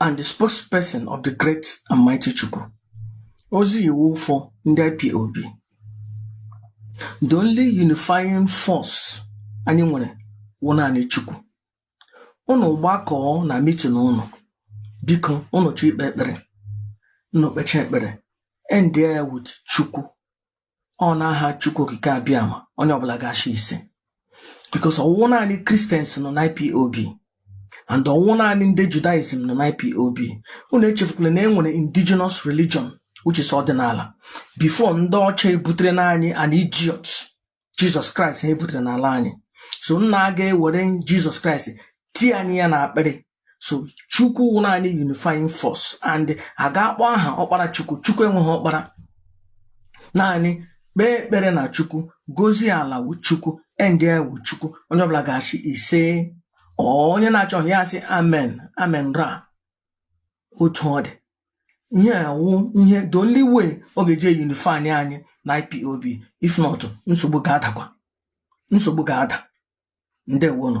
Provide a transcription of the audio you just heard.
and the spokesperson of the Great and Mighty Chukwu. Ozi iwu for ndị IPOB. The only unifying force anyị nwere wụ naanị Chukwu. Ụnụ gbakọọ na mitin ụnụ, biko ụnụ chọ ikpe ekpere, ụnụ kpecha ekpere, end ya with Chukwu. ọ n'aha Chukwu Okike Abịama onye ọbụla ga-achị isi because ọ wụghị naanị Christians nọ na IPOB and ọ wụghị naanị ndị Judaism nọ na IPOB unu echefukwala na e nwere indigenous religion which is ọdịnala before ndị ọcha ebutere n'anyị an idiot Jizọs Kraịst ha ebutere n'ala anyị so unu aga ewere Jizọs Kraịst tie anyị ya n'akpịrị so chukwu wụ naanị unifying force and a ga-akpọ aha ọkpara chukwu chukwu enweghị ọkpara naanị kpee ekpere na chukwu gozie ala wu chukwu endie with chukwu onye ọbụla ga-asị ise onye na-achọghị ya asị amen amen ra otu ọ dị ihe a wụ ihe the only way ọ ga-eji unify anyị na IPOB if not nsogbu ga-adakwa nsogbu ga-ada ndewonụ